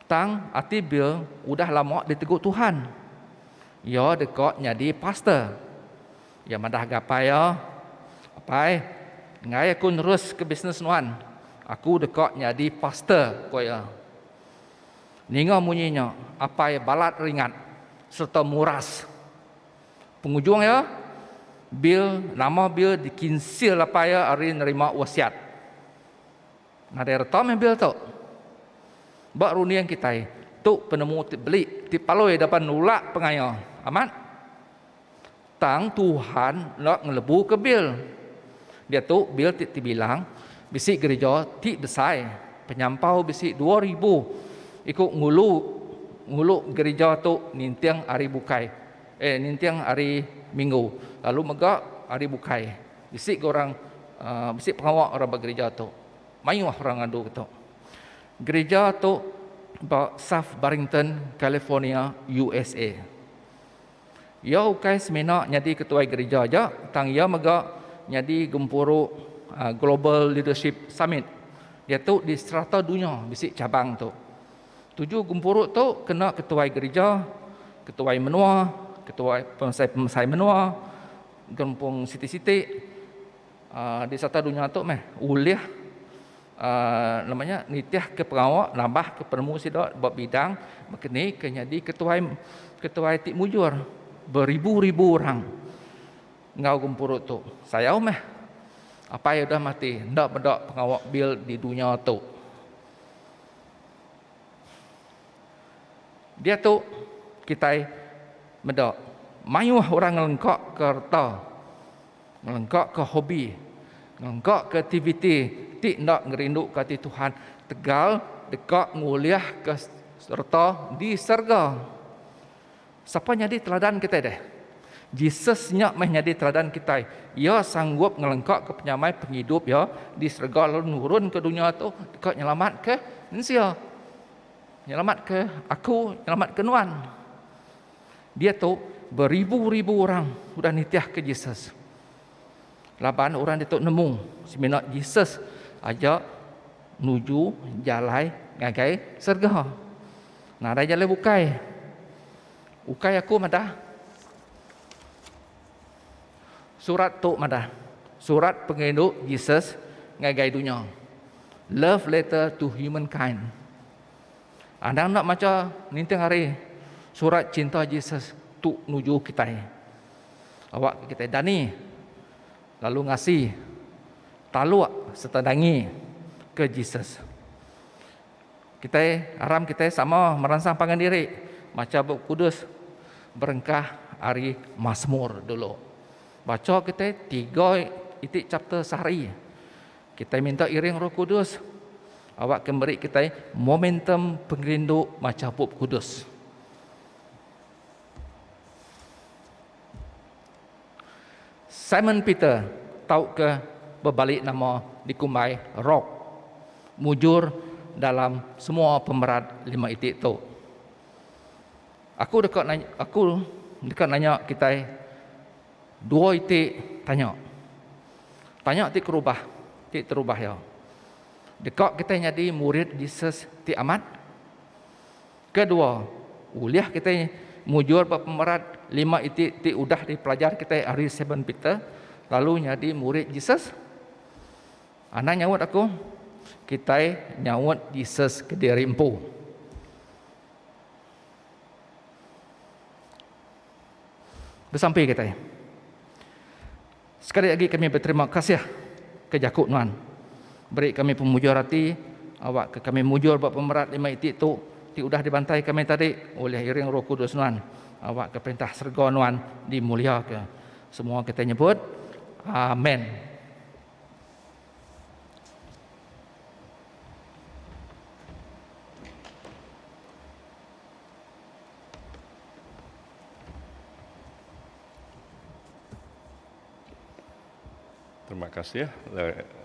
Tang, ati Bill udah lama ditegu Tuhan. Iya deka nyadi pastor. Iya madah ngagai apai iya, Apai, enggai aku neruska bisnes nuan, aku deka nyadi pastor, ku iya. Ninga munyi nya, Apai balat ringat sereta muras. Pengujung iya, Bill, nama Bill dikinsil apai iya ari nerima wasiat. Nadai reta meh Bill tu. Ba runding kitai, tu penemu ti belik ti palui deba nulak pengaya. Amat. Tang Tuhan enda ngelebuka bil. Diatu bil ti tebilang bisi gereja ti besai penyampau bisi dua ribu iku ngulu ngulu gereja tu ninting hari bukai eh ninting hari minggu lalu mega hari bukai bisi ga orang aaa bisi pengawa orang ba gereja tu mayuh orang ngadu ga tu. Gereja tu ba South Barrington California USA. Iya ukai semina nyadi ketuai gerija aja tang iya mega nyadi gempuru Global Leadership Summit diatu di serata dunya bisi cabang tu. Tuju gempuru tu kena ketuai gerija, ketuai menua, ketuai pemesai-pemesai menua, gerempung siti-siti. Di sereta dunya tu meh ulih nama nya nitihka pengawa nambahka penemu sida ba bidang mekanik ke nyadi ketuai ketuai ti mujur beribu-ribu orang enggau gempuru tu. Sayau meh apai udah mati enda meda pengawa bil di dunya tu. Diatu kitai meda mayuh orang ngelengkaka reta. Ngelengkaka hobi, ngelengkaka aktiviti ti enda ngerinduka ati Tuhan tegal deka ngulihka sereta di serega. Sapa nyadi teladan kitai deh? Jesus nya meh nyadi teladan kitai. Iya sanggup ngelengkaka penyamai pengidup iya di serega lalu nurun ke dunya tu deka nyelamatka mensia. Nyelamatka aku, nyelamatka nuan. Diatu, beribu-ribu orang udah nitihka Jesus. Laban orang ditu nemu semina Jesus aja nuju jalai ngagai serega. Nadai jalai bukai. Ukai aku madah. Surat tu madah. Surat pengerindu Jesus ngagai dunya. Love letter to humankind. Anang enda macha ninting hari surat cinta Jesus tu nuju kitai. Awak kitai dani lalu ngasi taluk serta dangi ke Jesus. Kitai aram kitai sama meransang pangan diri macha Bup Kudus berengkah ari Masmur dulu. Bacha kitai tiga iti chapter sehari. Kitai minta iring Roh Kudus awakka meri kitai momentum pengerindu macha Bup Kudus. Simon Peter tauka bebali nama dikumbai Rock mujur dalam semua pemerat lima iti tu. Aku deka nanya, aku deka nanya kitai Dua iti tanya. Tanya ti kerubah, ti terubah iya. Deka kitai nyadi murid Jesus ti amat? Kedua, ulih kitai mujur ba pemerat lima iti ti udah dipelajar kitai ari Simon Peter lalu nyadi murid Jesus? Anang nyaut aku, kitai nyaut Jesus kediri empu. Besampi kitai. Sekali agi kami beterima kasih ke jaku nuan beri kami pemujur ati awakka kami mujur ba pemerat lima iti tu ti udah dibantai kami tadi ulih iring Roh Kudus nuan awakka perintah serega nuan dimuliaka. Semua kitai nyebut, Amen. Terima kasih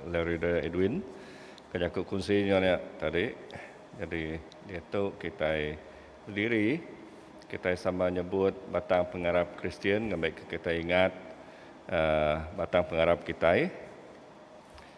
Larry Daya Edwin ke jaku kunsi nya nya tadi. Jadi diatu kitai bediri kitai sama nyebut batang pengarap Kristian ngambika kitai ingat aaa batang pengarap kitai.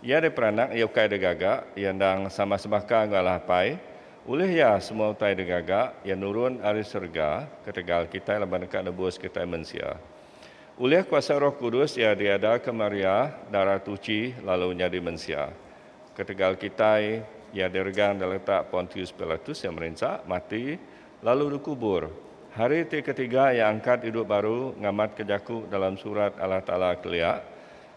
Iya ari peranak iya ukai da gaga, iya endang sama sebaka enggau Allah Apai. Ulih iya, semua utai da gaga iya nurun ari serega ketegal kitai laban deka nebus kitai mensia. Ulih kuasa Roh Kudus iya diadaka Maria darah tuchi lalu nyadi mensia. Ketegal kitai, iya diregang da letak Pontius Pilatus iya merinsa, mati, lalu dikubur. Hari ti ketiga iya angkat idup baru ngamatka jaku dalam Surat Allah Taala kelia.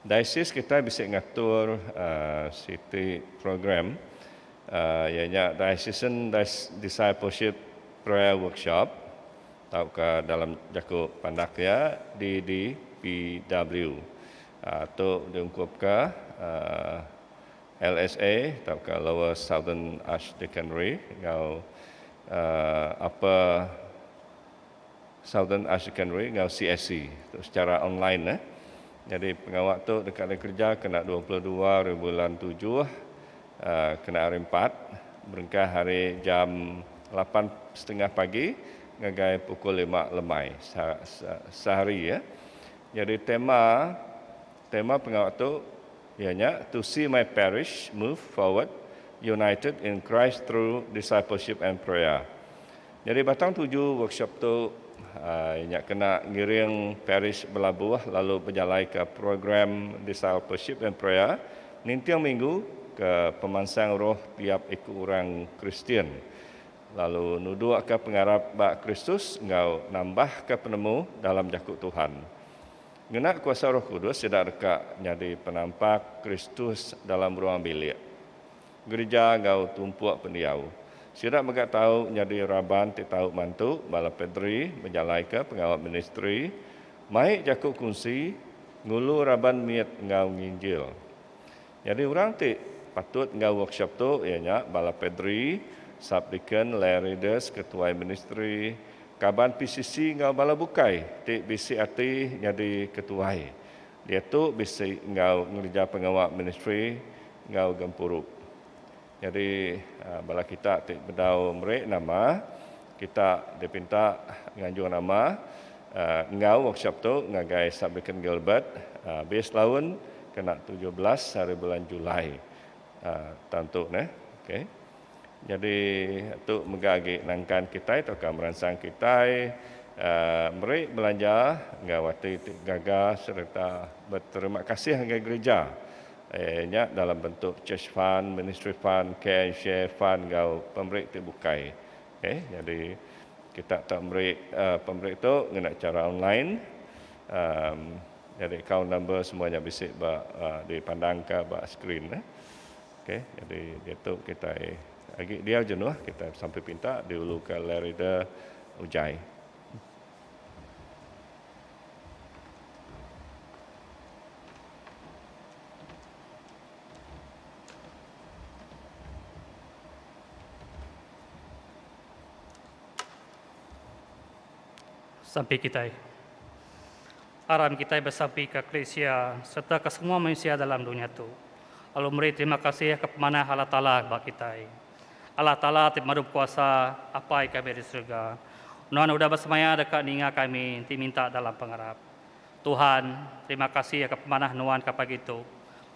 Diocese kitai bisi ngatur siti program iya nya Diocesan Discipleship Prayer Workshop tauka dalam jaku pandak iya DDPW. Tu diungkupka LSA tauka Lower Southern Archdeaconry enggau Upper. Southern High Secondary enggau CSC tu sechara online eh. Nyadi pengawa tu deka ari kereja kena dua puluh dua ari bulan tujuh kena hari empat berengkah ari jam lapan setengah pagi ngagai pukul lima lemai sehari eh. Nyadi tema tema pengawa tu iya nya To See My Parish Move Forward United in Christ Through Discipleship and Prayer. Nyadi batang tuju workshop tu nya kena ngiring parish belabuh lalu bejalaika program Discipleship and Prayer ninting minggu ke pemansang roh tiap iku orang Kristian lalu nudukka pengarap ba Kristus enggau nambahka penemu dalam jaku Tuhan. Ngena kuasa Roh Kudus sida deka nyadi penampak Kristus dalam ruang bilik. Gereja enggau tumpuk pendiau sida mega tau nyadi raban ti tau mantu bala padri bejalaika pengawa ministri, mai jaku kunsi, ngulu raban mit enggau nginjil. Nyadi orang ti patut enggau workshop tu iya nya bala padri, subdeacon, lay readers, ketuai ministri, kaban PCC enggau bala bukai ti bisi ati nyadi ketuai Diatu bisi enggau ngereja pengawa ministri enggau gempuru. Nyadi bala kita ti bedau meri nama kita dipinta nganjung nama enggau workshop tu ngagai Sub Deacon Gilbert bis laun kena tujuh belas hari bulan Julai tantu neh. Okey. Nyadi tu mega agi nangkan kitai tauka meransang kitai meri belanja enggau ati ti gaga sereta beterima kasih ngagai gerija nya dalam bentuk church fund, ministry fund, care and share fund enggau pemeri ti bukai. Okay, nyadi kita tau meri pemeri tu ngena chara online. Nyadi account number semua nya bisi ba dipandangka ba skrin. Ok jadi diatu kitai agi diau jenuh kitai besampi pinta diuluka Lerida Ujai. Sampi kitai. Aran kitai besampi ka Krisia serta ka semua mensia dalam dunya tu, lalu meri terima kasih ka pemanah Allah Taala ba kitai. Allah Taala ti Pemadu Bekuasa, Apai kami di serega, Nuan udah besemaya deka ninga kami enti minta dalam pengarap. Tuhan, terima kasih ka pemanah Nuan ka pagi tu,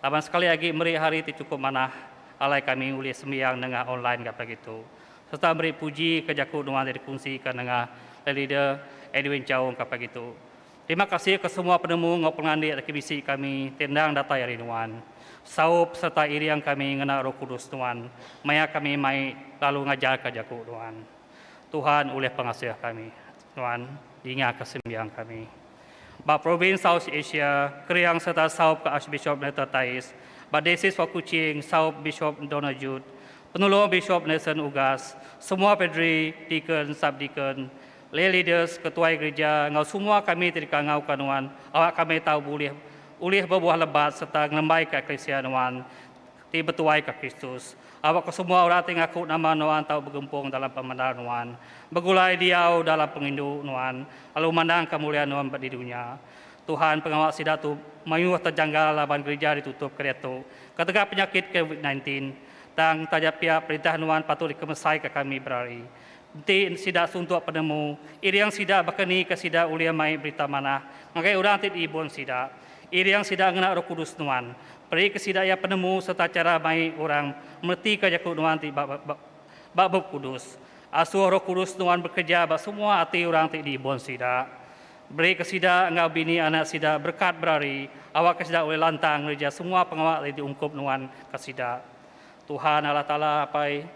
laban sekali agi meri hari ti chukup manah alai kami ulih sembiang nengah online ga pagi tu, serta meri puji ka jaku Nuan ti dikunsika nengah Leader Edwin Chaung ka pagi tu. Terima kasih ke semua penemu enggau pengelandik laki bisi kami ti endang datai ari nuan. Saup sereta iring kami ngena Roh Kudus nuan maya kami mai lalu ngajarka jaku nuan. Tuhan ulih pengasih kami. Nuan dingaka sembiang kami. Ba Provins South Asia, Kering sereta saup ke Archbishop Nathan Tais, ba Daysis Wa Kuching saup Bishop Donald Judd, Penulung Bishop Nelson Ugas, semua Padri, Deacon, Sub-Deacon, Lay leaders, ketuai gerija enggau semua kami ti deka ngauka nuan awak kami tau bulih ulih bebuah lebat sereta ngelembaika eklisia nuan ti betuaika Kristus. Awak ke semua orang ti ngaku nama nuan tau begempung dalam pemendar nuan, begulai diau dalam pengindu nuan lalu mandang kemulian nuan ba di dunya. Tuhan pengawa sida tu mayuh terjanggal laban gerija ditutup kediatu ketegal penyakit covid nineteen. Tang taja pia perintah nuan patut dikemesaika kami berari. Enti sida suntuk penemu, iring sida baka ni ke sida ulih mai Berita Manah ngagai orang ti diibun sida? Iring sida ngena Roh Kudus Nuan, perika sida iya penemu sereta chara mai orang meretika jaku Nuan ti ba Bup Kudus. Asuh Roh Kudus Nuan bekereja ba semua ati orang ti diibun sida. Berika sida enggau bini anak sida berekat berari awakka sida ulih lantang ngereja semua pengawa ti diungkup Nuan ka sida. Tuhan Allah Taala apai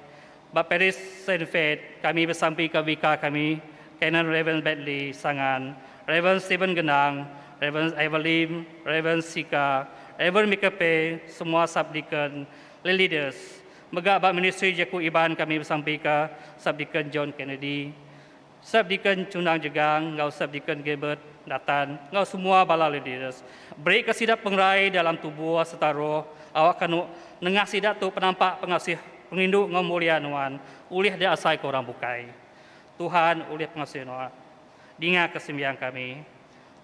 Ba Paris Saint-Fate, kami besampika bika kami, Canon Reverend Bedley, Sangan, Reverend Stephen Gendang, Reverend Ivor Lim, Reverend Sika, Reverend Michael Pei, semua Sub-Deacon, le Leaders. Mega ba ministri Jaku Iban kami besampika Sub-Deacon John Kennedy. Sub Deacon Chunang Jegang enggau Sub Deacon Gilbert Nathan enggau semua bala Leaders berika sida pengerai dalam tubuh sereta roh awakka enu nengah sida tu penampak pengasih pengerindu enggau mulia nuan ulih diasaika orang bukai. Tuhan ulih pengasih nuan. Dingaka sembiang kami.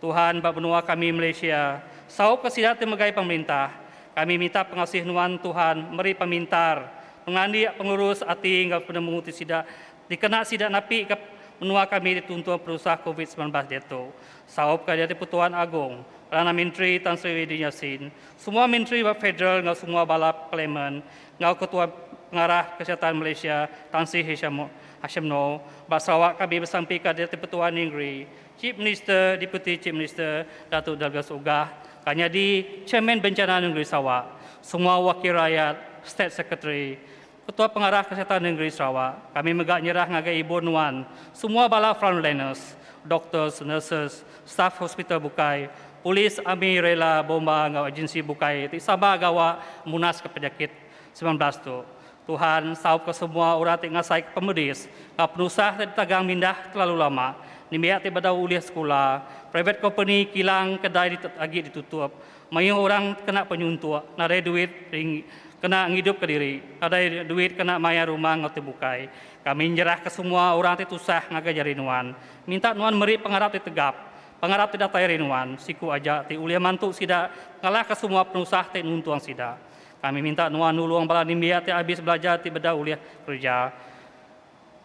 Tuhan ba menua kami Malaysia, saup ke sida ti megai pemerintah, kami minta pengasih nuan Tuhan meri pemintar, pengandik, pengurus ati enggau penemu ti sida dikena sida napi ke menua kami dituntung penusah covid semilan belas diatu, saup ke Diatu Pertuan Agong, Perdana Menteri Tan Sri Wahidin Yassin, semua menteri ba federal enggau semua bala parlimen enggau Ketua Pengarah Kesihatan Malaysia Tan Sri Hisham Hashimno ba Sarawak kami besampi ka Diatu Pertuan Ningri Chief Minister, Deputy Chief Minister, Datuk Douglas Uggah, ka nyadi Chairman Bencana Nengeri Sarawak, semua wakil rayat, State Secretary, Ketua Pengarah Kesihatan Nengeri Sarawak, kami mega nyerah ngagai ibu nuan, semua bala frontliners, doctors, nurses, staff hospital bukai, polis, army, rela, bomba enggau agensi bukai ti sabar gawa munaska penyakit semilan belas tu. Tuhan saupka semua orang ti ngasaika pemedis enggau penusah ti ditagang mindah kelalu lama, nembiak ti bedau ulih sekula, private company kilang kedai ditu agi ditutup, mayuh orang kena penyuntuk nadai duit ring kena ngidupka diri, nadai duit kena mayar rumah enggau ti bukai. Kami nyerahka semua orang ti tusah ngagai jari nuan, minta nuan meri pengarap ti tegap, pengarap ti datai ari nuan, siku aja ti ulih mantu sida ngalahka semua penusah ti nuntung sida. Kami minta nuan nulung bala nembiak ti abis belajar ti bedau ulih kereja.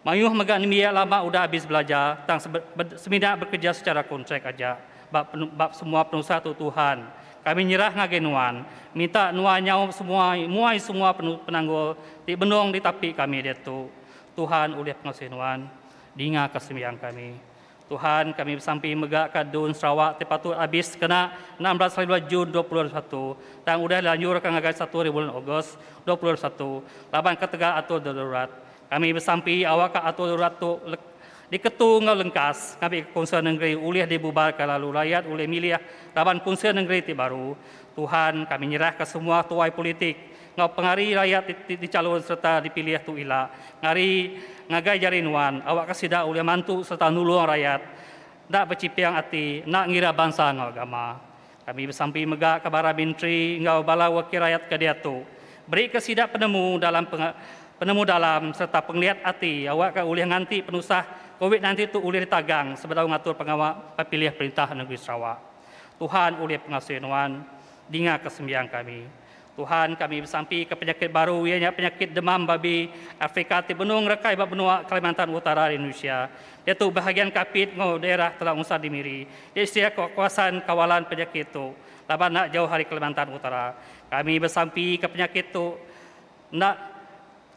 Mayuh mega nembiak lama udah abis belajar tang semina bekereja secara kontrak aja ba ba semua penusah tu Tuhan. Kami nyerah ngagai nuan, minta nuan nyaup semua muai semua penanggul ti benung ditapi kami diatu. Tuhan ulih pengasih nuan. Dingaka sembiang kami. Tuhan kami besampi mega ka dun Sarawak ti patut abis sekena enam belas hari dua Jun dua puluh dua puluh satu tang udah dilanjur ka ngagai satu hari bulan Ogos dua puluh dua puluh satu laban ketegal atur darurat. Kami besampi awak ka atur darurat tu diketu enggau lengkas ngabi ka Kunsil Nengeri ulih dibubar ka lalu rayat ulih milih raban Kunsil Nengeri ti baru. Tuhan kami nyerah ka semua tuai politik enggau pengari rayat ti dichalun sereta dipilih tu ila ngari ngagai jari nuan awakka sida ulih mantu sereta nulung rayat enda bechiping ati enda ngira bansa enggau agama. Kami besampi mega ke Bara Menteri enggau bala wakil rayat ke diatu berika sida penemu dalam penemu dalam sereta pengeliat ati awakka ulih nganti penusah Covid nineteen tu ulih ditagang sebedau ngatur pengawa pepilih perintah negeri Sarawak. Tuhan ulih pengasuh nuan dingaka sembiang kami. Tuhan, kami besampika penyakit baru iya nya penyakit demam babi Afrika ti benung rakai ba menua Kalimantan Utara ari Indonesia, diatu behagian Kapit enggau daerah Telang Usan Dimiri disedia ka kawasan kawalan penyakit tu laban enda jauh ari Kalimantan Utara. Kami besampika penyakit tu enda.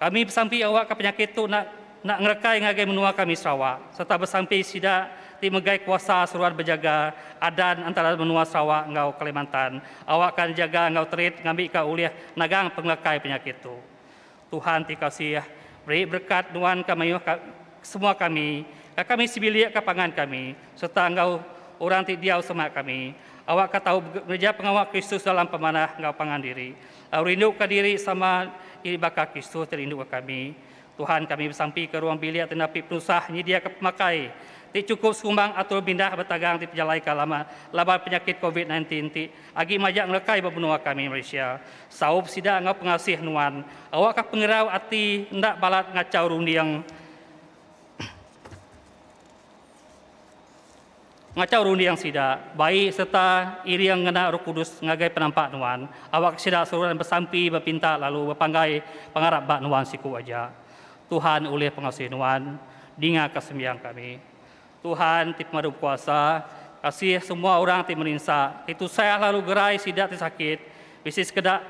Kami besampi awakka penyakit tu enda enda ngerekai ngagai menua kami Sarawak sereta besampi sida ti megai kuasa seruan bejaga adan antara menua Sarawak enggau Kalimantan awakka nejaga enggau terit ngambika ulih nagang pengelekai penyakit tu. Tuhan ti kasih meri berekat nuan ka mayuh ka kesemua kami, ka kami sebilik ka pangan kami sereta enggau orang ti diau semak kami awakka tau ngereja pengawa Kristus dalam pemanah enggau pangan diri. Tau rinduka diri sama diri baka Kristus ti rinduka kami. Tuhan kami besampika ruang bilik ti napi penusah nyediaka pemakai ti chukup sekumbang atur mindah betagang ti pejalaika lama laban penyakit Covid nineteen ti agi majak ngelekai ba menua kami Malaysia. Saup sida enggau pengasih nuan, awakka pengerau ati enda balat ngachau runding. Ngachau runding sida, bai sereta iring ngena Roh Kudus ngagai penampak nuan. Awakka sida seruran besampi, bepinta lalu bepanggai pengarap ba nuan siku aja. Tuhan ulih pengasuh nuan. Dingaka sembiang kami. Tuhan ti pemadu bekuasa, kasih semua orang ti merinsa, ti tusah lalu gerai sida ti sakit, bisi sekeda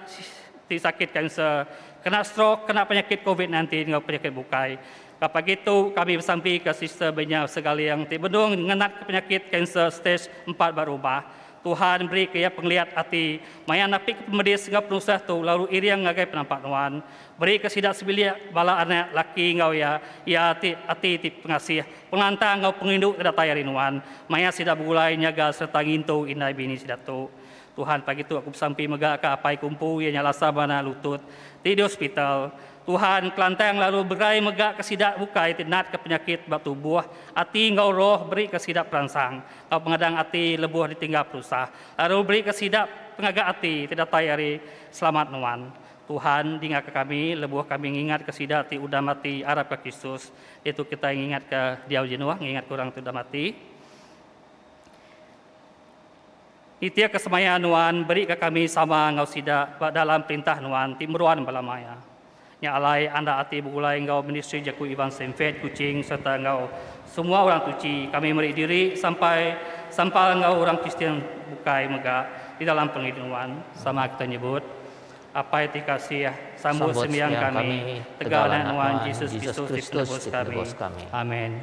ti sakit kanser, kena strok, kena penyakit covid nineteen enggau penyakit bukai. Ka pagi tu, kami besampika Sister Benya Segaling ti benung ngenatka penyakit kanser stej empat ba rumah. Tuhan merika iya pengeliat ati maya napika pemedis enggau penusah tu lalu iring ngagai penampak nuan. Berika sida sebilik bala anak laki enggau iya iya ti ati ti pengasih, pengelantang enggau pengerindu ke datai ari nuan maya sida begulai nyaga sereta ngintu indai bini sida tu. Tuhan pagi tu aku besampi mega ka apai kumpu iya nya Lasa Mana Lutut ti di hospital. Tuhan Kelantang lalu berai mega ke sida bukai ti natka penyakit ba tubuh, ati enggau roh berika sida peransang enggau pengadang ati lebuh ditingga penusah, lalu berika sida pengaga ati ti datai ari Selamat nuan. Tuhan dingaka kami lebuh kami ngingatka sida ti udah mati arapka Kristus diatu kitai ngingatka diau jenuh ngingatka orang ti udah mati. Nitih ke semaya nuan beri ke kami sama enggau sida ba dalam perintah nuan ti meruan bala maya. Nya alai anda ati begulai enggau ministri jaku Iban Senfet Kuching sereta enggau semua orang tuchi kami meri diri sampai sampal enggau orang Kristian bukai mega di dalam pengelit nuan. Sama kita nyebut, Apai ti kasih, sambut sembiang kami tegal Anak nuan Jesus Kristus ti penebus kami. Amen.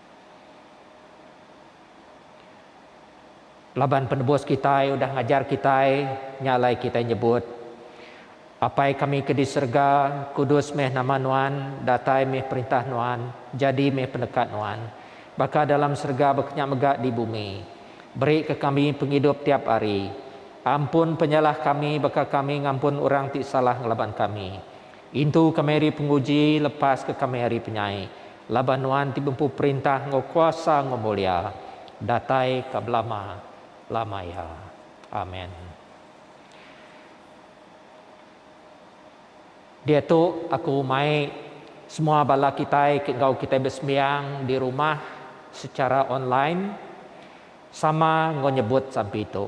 Laban Penebus kitai udah ngajar kitai, nya alai kitai nyebut, Apai kami ke di serega, kudus meh nama Nuan, datai meh perintah Nuan, jadi meh peneka Nuan, baka dalam serega baka nya mega di bumi. Berika kami pengidup tiap hari. Ampun penyalah kami baka kami ngampun orang ti salah ngelaban kami. Intu kami ari penguji, lepaska kami ari penyai, Laban nuan ti bempu perintah enggau kuasa enggau mulia, datai ka belama lama iya. Amen. Diatu aku mai semua bala kitai ke enggau kitai besembiang di rumah secara online sama enggau nyebut sampi tu.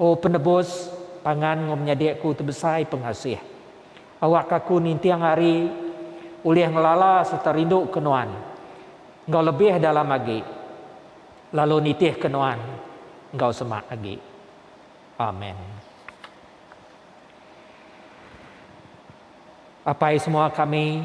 O Penebus, pangan enggau menyadi-Ku ti besai pengasih. Awakka aku ninting ari ulih ngelala sereta rinduka Nuan enggau lebih dalam agi, lalu nitihka Nuan enggau semak agi. Amen. Apai semua kami.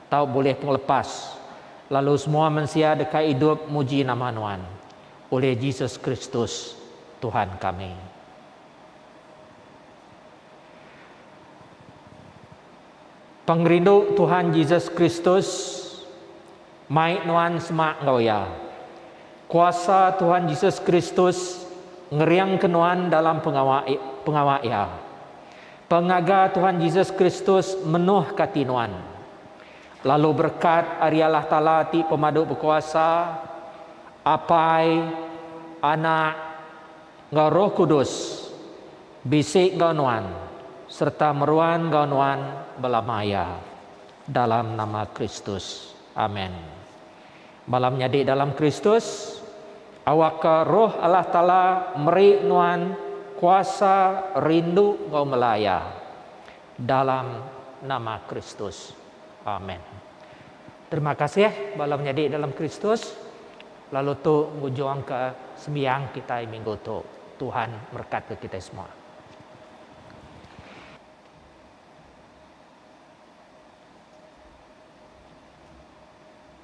Tau bulih pengelepas, lalu semua mensia deka idup muji nama Nuan, ulih Jesus Kristus, Tuhan kami. Pengerindu Tuhan Jesus Kristus, mai nuan semak enggau Iya. Kuasa Tuhan Jesus Kristus ngeringka nuan dalam pengawa pengawa Iya. Pengaga Tuhan Jesus Kristus menohka ati nuan. Lalu berekat ari Allah Taala ti Pemadu Bekuasa, Apai, Anak, enggau Roh Kudus bisi enggau nuan sereta meruan enggau nuan belama iya. Dalam nama Kristus. Amen. Bala menyadi dalam Kristus, awakka Roh Allah Taala meri nuan kuasa rindu enggau mela Iya. Dalam nama Kristus. Amen. Terima kasih bala menyadi dalam Kristus, lalu tu ngujungka sembiang kitai minggu tu. Tuhan merekatka kitai semua.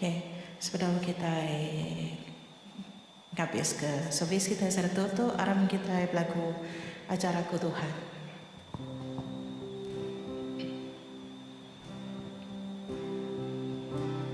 Okay, sebedau kitai ngabiska servis kitai seratur tu, aram kitai belagu Ajar Aku Tuhan.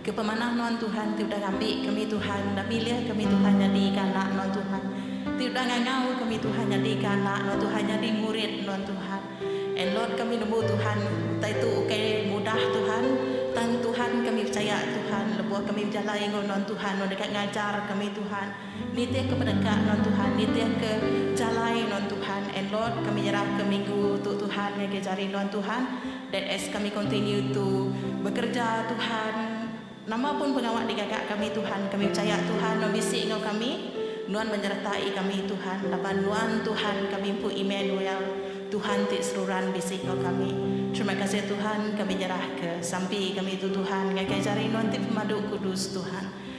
Ke pemanah nuan Tuhan ti udah ngambi kami Tuhan udah milih kami Tuhan nyadi ka anak nuan Tuhan ti udah ngangau kami Tuhan nyadi ka anak nuan Tuhan nyadi murid nuan Tuhan and Lord kami nembu Tuhan utai tu ukai mudah Tuhan tang Tuhan kami pechaya Tuhan lebuh kami bejalai enggau nuan Tuhan nuan deka ngajar kami Tuhan. Nitihka peneka non Tuhan nitihka jalai non Tuhan and Lord kami nyerahka minggu tu Tuhan ngagai jari non Tuhan that as kami continue to bekerja Tuhan nama pun pengawa digaga kami Tuhan kami pechaya Tuhan nuan bisi enggau kami nuan menyertai kami Tuhan laban nuan Tuhan kami empu Immanuel Tuhan ti seruran bisi enggau kami terima kasih Tuhan kami nyerahka sampi kami tu Tuhan ngagai jari nuan ti pemadu kudus Tuhan.